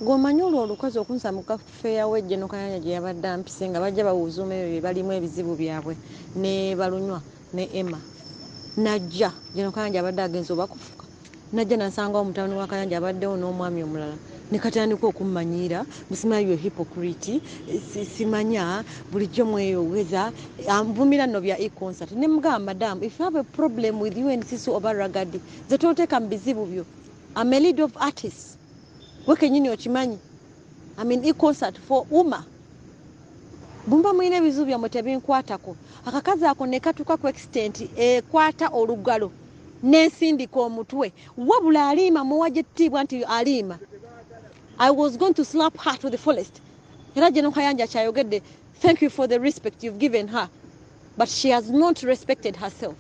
Gwe omanyi olwo olukazi okunsa mu kafeeya we Geno Kayanja gye yabadde ampise nga bajja bawuuzuuma ebyo bye balimu ebizibu byabwe ne balunywa ne Emma najja Geno Kayanja abadde agenze oba kufuka najja nasangawo mutabani wa Kayanja abaddewo n'omwami omulala ne katandika okummanyiira musimanyi byo hipokuriti simanya bulijjo mweyogeza nvumira nno bya econsert ne mugamba madamu if you have a problem with you and sisu oba ragadi ze toteeka mu bizibu byo am a lead of artists gwe kenyini okimanyi I mean, e concert for uma bumba mulina ebizibu byammwe tebinkwatako akakazi ako nekatuuka ku extent ekwata olugalo nensindika omutwe wabula aliima muwa gyettiibwa nti aliima i was going to slap her to the fullest era gye nonkayanja kyayogedde thank you for the respect you've given her but she has not respected herself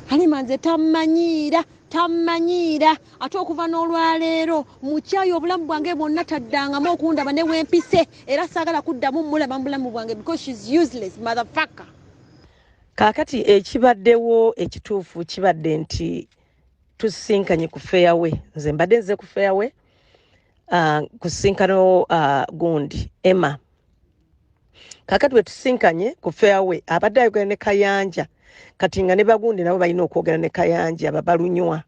halima nze tammanyiira tammanyiira ate okuva n'olwaleero mukyayi obulamu bwange bwonna taddangamu okundaba ne wempise era saagala kuddamu mulaba mu bulamu bwange because shes useless motherfucker kaakati ekibaddewo ekituufu kibadde nti tusisinkanye ku feyawe nze mbadde nze ku feyawe uh, kusisinkana uh, gundi emma kakati wetusinkanye ku fairway abadde ayogera ne kayanja kati nga ne bagundi nabo balina okwogera ne kayanja babalunywa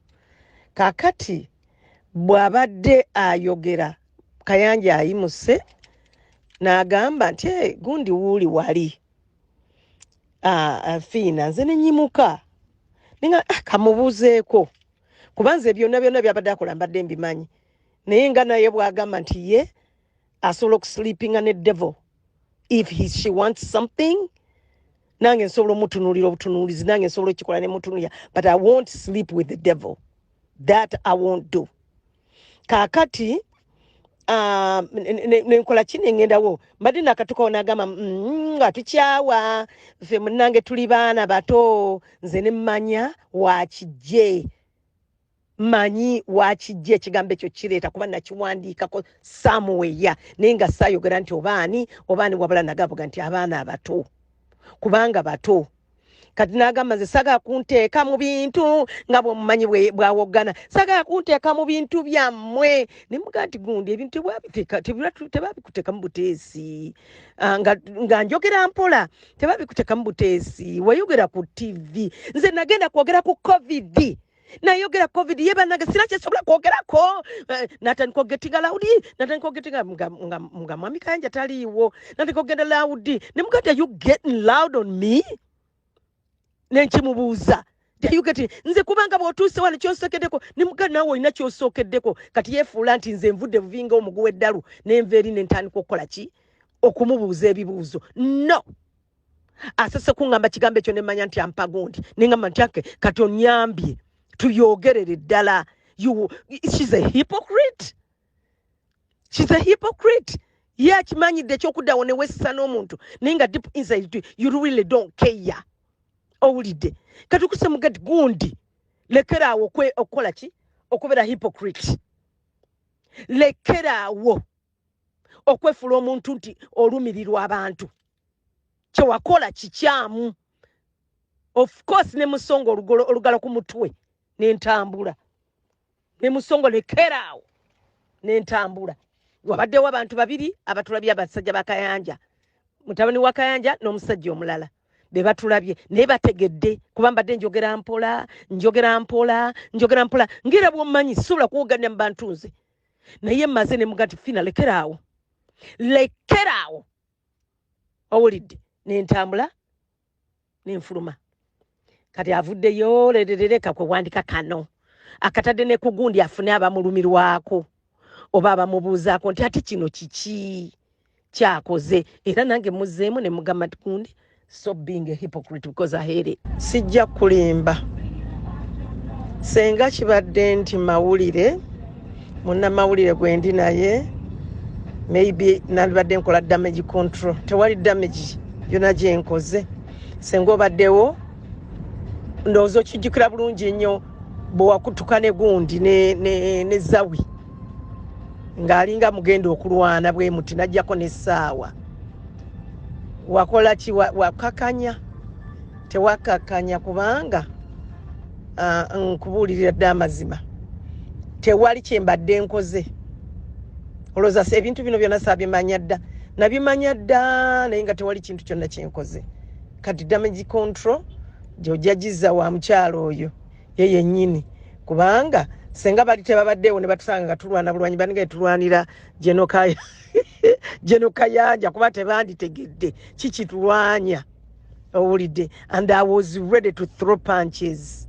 kakati bwabadde ayogera kayanja ayimuse n'agamba nti hey, eh, gundi wuuli wali ah, ah, fiina nze nenyimuka ninga ah, kamubuuzeeko kubanze byonna byonna byabadde akola mbadde mbimanyi naye nga naye bwagamba nti ye asobola okusleepinga ne devil if he, she wants something nange nsobola omutunulira obutunulizi nange nsobola okikola nemutunulira but i won't sleep with the devil that i won't do kakati ah, nenkola ki nengendawo mbadde nakatukawo nagamba mm, nga tukyawa fe munange tuli baana bato nze nemmanya wakijje manyi wakijja ekigambo ekyo kireeta kuba nakiwandiikako samuweya naye nga saayogera nti obaani obaani wabula nagabuga nti abaana abato kubanga bato kati nagamba nze sagala kunteeka mu bintu nga bwemumanyi bwawoggana sagala kunteeka mu bintu byammwe nemuga nti gundi ebintu tebabikuteekamu buteesi ah, nga njogera mpola tebabikuteekamu buteesi wayogera ku ttivi nze nagenda kwogera ku covid nayogera covid ye banange sina kyesobola kwogerako eh, natandika ogetinga laudi natandika ogetinga nga mwami kayanja taliiwo natandika ogenda laudi ne mugati are you getting loud on me nenkimubuuza teyugeti nze kubanga bwotuuse wano kyosokedeko ne mugati nawe olina kyosokeddeko kati yefuula nti nze nvudde buvinga omuguwa eddalu nenva eri nentandika okukola ki okumubuuza ebibuuzo no asese kuŋŋamba kigambo ekyo ne mmanya nti ampa gundi ne ŋŋamba nti ake kati onnyambye tuyogerere ddala shes a hypocrite shes a hypocrite ye akimanyidde ekyokuddawo ne weesisa n'omuntu naye nga deep inside you really don't care owulidde kati okuse mugati gundi lekeraawo okukola ki okubeera hypocrite lekeraawo okwefula omuntu nti olumirirwa abantu kyewakola kikyamu of course ne musonga olugolo olugala ku mutwe nentambula ne musongo lekeraawo nentambula wabaddewo abantu babiri abatulabye abasajja bakayanja mutabani wa kayanja n'omusajja omulala be batulabye naye bategedde kuba mbadde njogera mpola njogera mpola njogera mpola ngera bwomanyi sobola kuwoganya mu bantu nze naye maze ne mugati fina lekeraawo lekeraawo owulidde nentambula nenfuluma kati avuddeyo lererereka kwe wandika kano akatadde ne kugundi afune abamulumirwako oba abamubuuzaako nti ate kino kiki kyakoze era nange muzeemu ne mugamba tikundi so being a hypocrite because i hate it sijja kulimba senga kibadde nti mawulire munnamawulire gwendi naye maybe nalibadde nkola damage control tewali damage yona gyenkoze senga obaddewo ndowooza okijjukira bulungi nnyo bwewakutuka ne gundi ne, ne, ne zawi ne ng'alinga mugenda okulwana bwe muti najjako n'essaawa wakola ki wakakanya tewakakanya kubanga ah, nkubuulirira dde amazima tewali kye mbadde nkoze olowooza ebintu bino byonna saabimanya dda nabimanya dda naye nga tewali kintu kyonna kyenkoze kati damage control gyojagizza wa mukyalo oyo ye yennyini kubanga senga bali tebabaddeewo ne batusanga nga tulwana bulwanyi baninga yetulwanira genokaya jeno kayanja kuba tebanditegedde kikitulwanya owulidde and i was ready to throw punches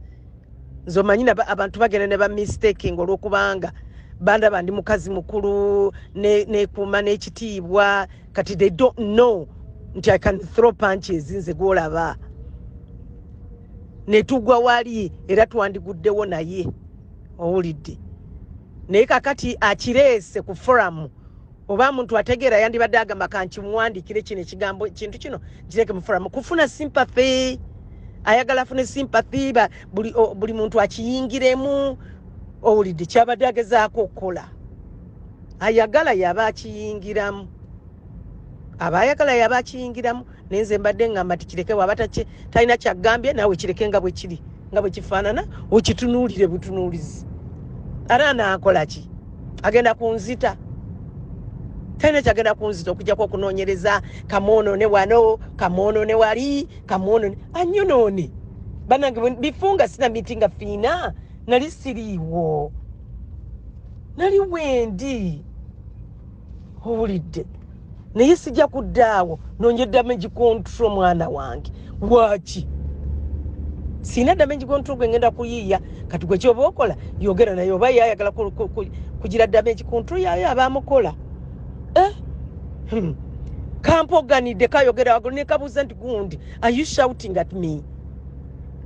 nze omanyi abantu bagenda ne bamistaking olwokubanga bandaba ndi mukazi mukulu nekuuma ne n'ekitiibwa kati they don't know nti i can throw punches nze gwolaba netugwa wali era twandiguddewo naye owulidde naye kakati akireese ku foramu oba muntu ategeera yandibadde agamba kankimuwandikire kino ekigambo kintu kino kireke mufuramu kufuna sympathy ayagala afune sympathy buli, buli muntu akiyingiremu owulidde kyabadde agezaako okukola ayagala yaba akiyingiramu aba ayagala yaba akiyingiramu naye nze mbadde ngamba ti kireke waba talina kyagambye naawe kireke nga bwe kiri nga bwe kifaanana okitunuulire butunuulizi ate anaakola ki agenda kunzita talina kyagenda kunzita okujjako okunoonyereza kamwonoone wano kamwonoone wali kamwonoone anyonoone banange bifunga sina miti nga fiina nali siriiwo nali wendi owulidde naye sijja kuddaawo nonye damage control mwana wange lwaki sina damage control gwe ngenda kuyiiya kati gwe kyoba okola yogera naye oba yayagala kugira damage control yayo abamukola eh? hmm. kampoganidde kayogera wagulu nekabuuza nti gundi are you shouting at me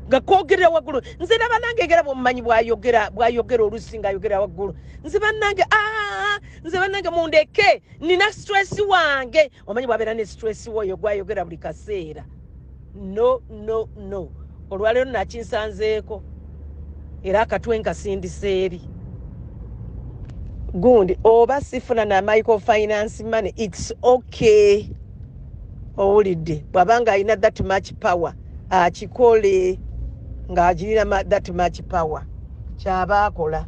nga kogerera wagulu nze na banange egera bwomumanyi bwayogera bwayogera olusi nga ayogera waggulu nze banange aa nze banange mundeke nina stress wange omanyi bwabeera ne stress woyo gwayogera buli kaseera no no no olwaleero nakinsanzeeko era akatwe nkasindisa eri gundi oba sifuna na micro finance money its okay owulidde bwabanga alina that much power akikole ng'agirira that much power kyaba akola